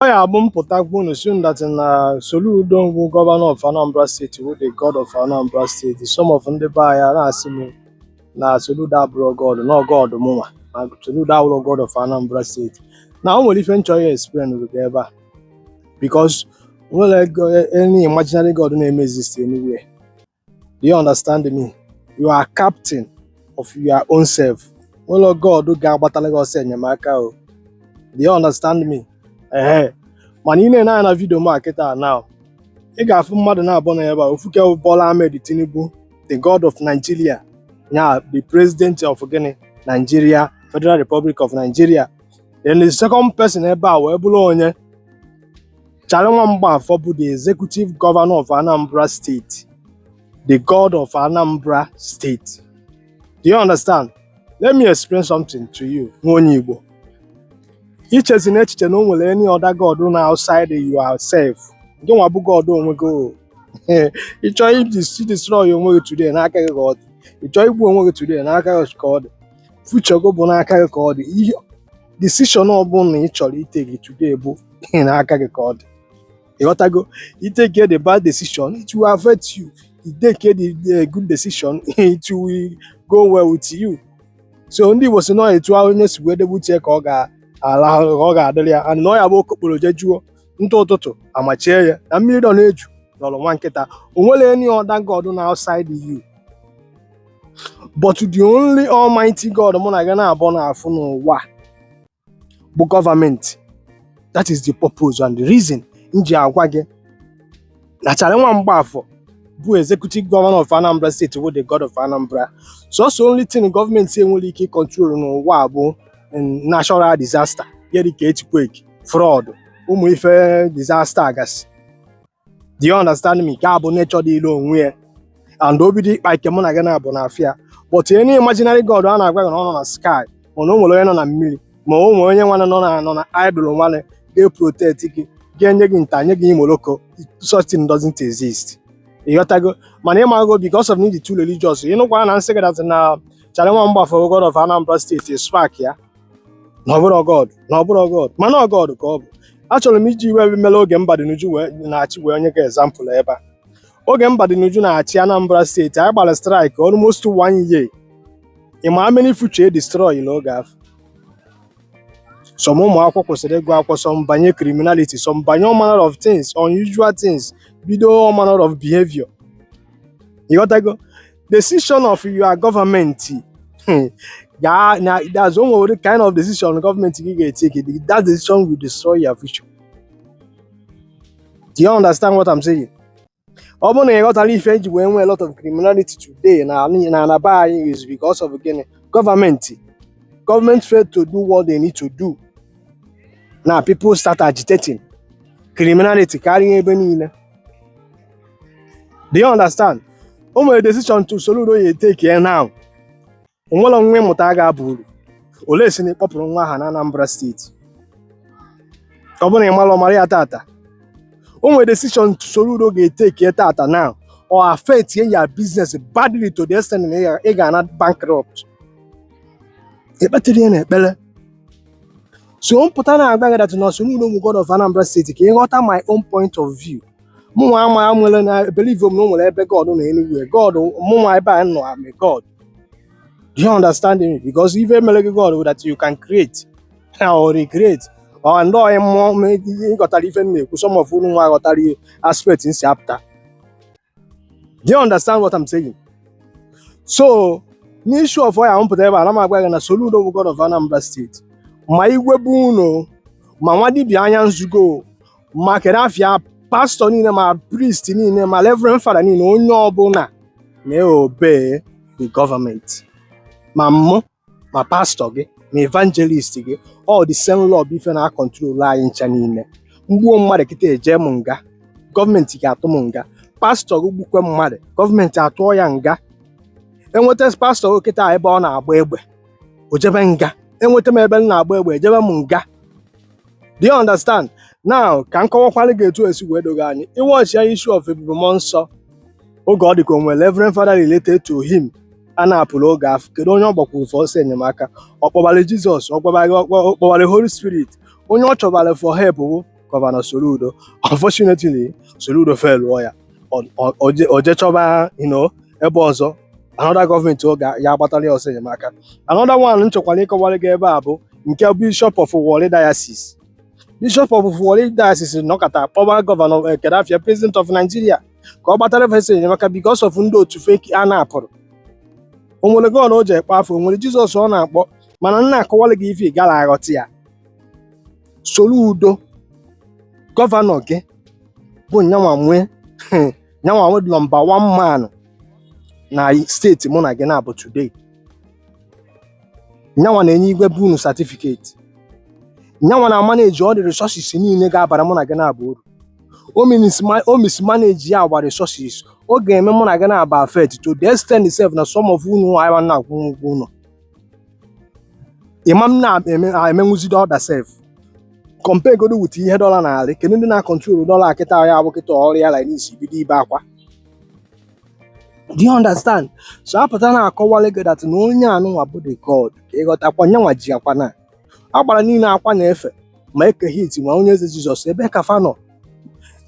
Ọ ya bụ m pụtakwu unu sị unu that na Soludo bụ gọvanọ of Anambra steeti wụ the god of Anambra steeti some of ndị be anyị a na-asị m na Soludo abụrọ god na ọ god mụnwa na Soludo abụrọ god of Anambra steeti na o nwere ife m chọ iexplainrụ gị ebe a because o nwerọ any imaginary god na-eme exist anywhere Do you understand me? You are captain of your own self. O nwerọ god ga-agbatara gị ọsọ enyemaka o. Do you understand me? Ehe. Mana ị na-ene anya na vidio m a kịta now. Ị ga-afụ mmadụ naabọ na ebe a ofu ke bụ Bola Ahmed Tinubu, the God of Nigeria, ya the president of gịnị Nigeria, Federal Republic of Nigeria. Then the second person ebe a wee bụrụ onye Charlie Nwamgbafọ bụ the executive governor of Anambra State, the god of Anambra State. Do you understand? Let me explain something to you, nwa onye Igbo. Echezina echiche na o nwere any other god nọ outside yourself. Gị nwa bụ god onwe gị o. Ị chọọ idis- idestroy onwe gị today n'aka gị ka ọ dị. Ị chọọ igbu onwe gị today n'aka gị ka ọ dị. Future gị bụ n'aka gị ka ọ dị. Ihe decision ọbụla ị chọrọ itake today bụ ihe n'aka gị ka ọ dị ịghọtago ị take the bad decision it will affect you ị take the the good decision it will go well with you so ndị Igbo sị na ọ etu ahụ onye si wee debe ute ka ọ ga-arahụ ka ọ ga-adịrị ya and na ọ ya bụ okokporo jejuo ntụ ụtụtụ ana-eche ya na mmiri nọ n'eju nọọrọ nwa nkịta o nwerọ any other god nọ outside you but the only almighty god mụ na gị naabọ na-afụ n'ụwa bụ gọọmenti that is the purpose and the reason m ji agwa gị na Charlie Nwamgbafọ bụ executive governor of Anambra state bụ the god of Anambra so ọ sọ only thing gọọmenti enwerọ ike ịkọntrol n'ụwa bụ mm, natural disaster ya dịka earthquake flood ụmụ ife disaster gasị do you understand me nke a bụ nature dịịlụ onwe ya and o bido ịkpa ike mụ na gị naabọ na afịa but any imaginary god a na-agwa gị na ọ nọ na sky mana o nwere onye nọ na mmiri ma o nwere onye nwana nọ na nọ na idol nwana ga-eprotect gị ga-enye gị nta nye gị imoloko such thing doesn't exist ịghọtago mana ịmago because of ndị too religious ịnụkwara na m sị gị that na Charlie Nwamgbafọ god of Anambra steeti spark ya na ọ bụrọ god na ọ bụrọ god mana ọ god ka ọ bụ achọrọ m iji ife mere oge Mbadinuju wee na-achị wee nye gị ezampụl ebe a oge Mbadinuju na-achị Anambra steeti anyị gbara strike almost one year ị ma how many future e destroy n'oge afụ some ụmụ akwụkwọ kwụsịrị ịgụ akwụkwọ some banye criminality some banye all manner of things unusual things bido all manner of behavior ịghọtago decision of your government hmm, yeah, na that's one of the kind of decision government gị ga-etake that decision will destroy your future do you understand what I'm saying ọ bụrụ na ị ghọtara ife eji wee nwee a lot of criminality today na na na be anyị is because of gịnị gọọmenti gọọmenti fail to do what they need to do na people start agitating criminality karịa ebe niile do you understand o nwere decision Soludo ya-eteki ya now o nwere nwa ị mụta a ga-aba uru unless na ị kpọpụrụ nwa ahụ na Anambra steeti ọ bụrụ na ị bara ọgaranya tata o nwere decision Soludo ga-eteki ya tata now ọ affectịa your business badly to the extent na ị ga- ị ga-ana bankrupt ekpetiri ya na ekpere so m pụta na-agwa gị that na Soludo bụ God of Anambra steeti ka ị ghọta my own point of view mụnwa ama nwere na believe m na o nwere ebe God nọ anywhere God mụnwa ebe a nọ I'm a God do you understand me because ife mere gị God that you can create or recreate ọ ndị onye mmụọ ma ihe ịghọtara ife m na-ekwu some of unu nwa ghọtara the aspect m si apụta do you understand what I'm saying so n'issue of why m pụtara ebe a na m agwa gị na Soludo bụ God of Anambra steeti ma igwe be unu ma nwa dibịa anya nzugo ma kedu afa ya pastọ niile ma priest niile ma reverend fada niile onye ọbụla na-eobe the gọọmenti ma mụ ma pastọ gị ma evangelist gị ọ the same law bụ ife na-akọntrol anyị ncha niile m gbuo mmadụ kịta eje m nga gọọmenti ga-atụ m nga pastọ gị gbukwe mmadụ gọọmenti atụọ ya nga enweta pastọ gị kịta ebe ọ na-agba egbe o jebe nga enweta m ebe m na-agba egbe ejebe m nga Do you understand? Now ka m kọwakwara gị etu esi wee doo gị anya ị wọchịa issue of ebube mmụọ nsọ oge ọ dị ka o nwere Reverend Father related to him e kidnapụrụ oge afụ kedu onye ọ gbakwuru for ọsọ enyemaka ọ kpọbara Jizọs ọ kpọbara ọ kpọ- ọ kpọbara Holy Spirit onye ọ chọbara for help bụ Gọvanọ Soludo unfortunately Soludo felụọ ya Ọ- ọ- ọ je- ọ je chọba you know, ebe ọzọ another gọọmenti ya agbatara ya ọsọ enyemaka another one m chọkwara ịkọwara gị ebe a bụ nke bishọp of Warri diocese bishọp of Warri diocese nọkọta kpọba gọvanọ eh, kedu afa ya president of Nigeria ka ọ gbatara fa ọsọ enyemaka because of ndị otu fa e kidnapụrụ o nwere God o ji ekpe afụ o nwere jizọs ọ na-akpọ mana m na-akọwara gị ife ị gara aghọta ya Soludo gọvanọ gị bụ nyanwa nwee nyanwa wụ nọmba one man na steeti mụ na gị naabọ today nyanwa na-enye igwe be unu satifiketi nyanwa na maneji all the resources niile ga-abara mụ na gị naabọ uru o minisma- o mismanage ya our resources ọ ga-eme mụ na gị naabọ affect to the extent sef na some of unu ama na-akwụ ụgwọ ụlọ ị ma na-emenwuzi the other sef compare godu with ihe dọla na-arị kedu ndị na-akọntrol dọla kịta ya abụ kịta ọ rịa la n'isi bido ibe akwa do you understand so apụta na-akọwalị gị that na onye anụnwa bụ the god ka ị ghọtakwa nyanwa ji akwa na agbara niile akwa na-efe ma eke hit ma onye eze jizọs ebe ka fa nọ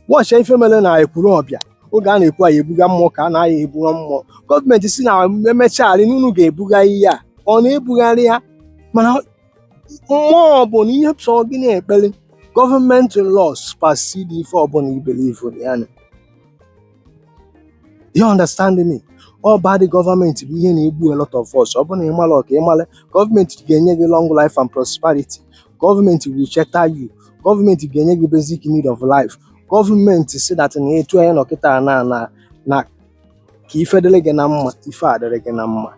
wọchịa ife mere na ekwuru ọ bịa oge a na-ekwu anyị ebuga mmụọ ka a na-aya ebuga mmụọ gọọmenti sị na emechagharị n'unu ga-ebuga ihe a ọ na-ebugharị ya mana mmụọ ọbụna ihe sọ gị na-ekpere gọọmenti law supersede ife ọbụla i believe ya na you understand me ọ bad gọọmenti bụ ihe na-egbu a lot of us ọ bụrụ na ị mara ọka ị mara gọọmenti ga-enye gị long life and prosperity gọọmenti will shelter you gọọmenti ga-enye gị basic need of life gọọmenti see that na etu anyị nọ kịta na na na ka ife dịrị gị na mma ife adịrị gị na mma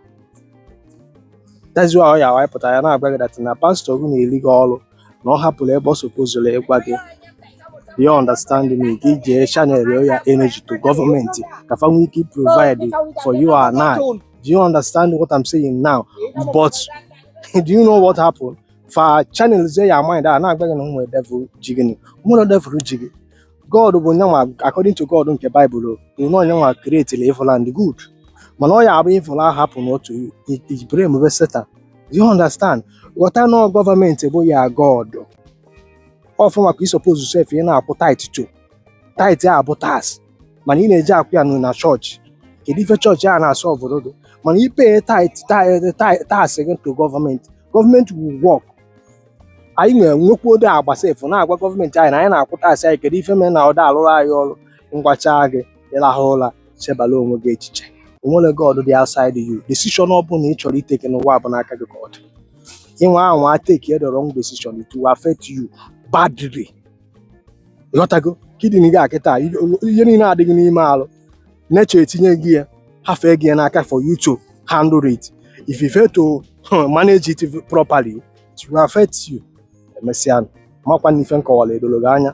that's why ọ ya wanyị pụtara ya na-agwa gị that na pastọ gị na-eri gị ọrụ na ọ hapụrụ ebe ọ sopozuru ịgwa gị you understand me gị jee channel your energy to gọọmenti ka fa nwee ike provide for you and I do you understand what I'm saying now but do you know what happened fa channel zie your mind a na-agwa gị na e nwere devil ji gị na e nwere devil ji gị God bụ nyanwa according to God nke Baịbụl kwuru na ọ nyanwa create na evil and good mana ọ ya abụ evil ahụ hapụ n'otu ibere emume Satan Do you understand ghọta na ọ gọọmenti bụ your God ọ fa nwa ka ị suppose sef ị na-akwụ tithe to tithe a bụ tax mana ị na-eje akwụ ya nụ na chọọchị kedu ife chọọchị a na-asọ obodo mana ị pay tithe tax gị to gọọmenti gọọmenti will work anyị na-enwekwa ode agba sef na-agwa gọọmenti anyị na anyị na-akwụ taasị anyị kedu ife mere na ọ da alụrụ anyị ọrụ m gwacha gị ịrahụ ụra chebala onwe gị echiche o nwere god dị outside you decision ọ bụla ị chọrọ ị take n'ụwa bụ n'aka gị ka ọ dị ị nwaa anwa take the wrong decision it will affect you badly ghọtago kidney gị akịta ihe niile a dị gị n'ime arụ nature etinye gị ya hafee gị ya n'aka for you to handle it if you fail to manage it properly it will affect you emesịa makwa na ife m kọwara edoro gị anya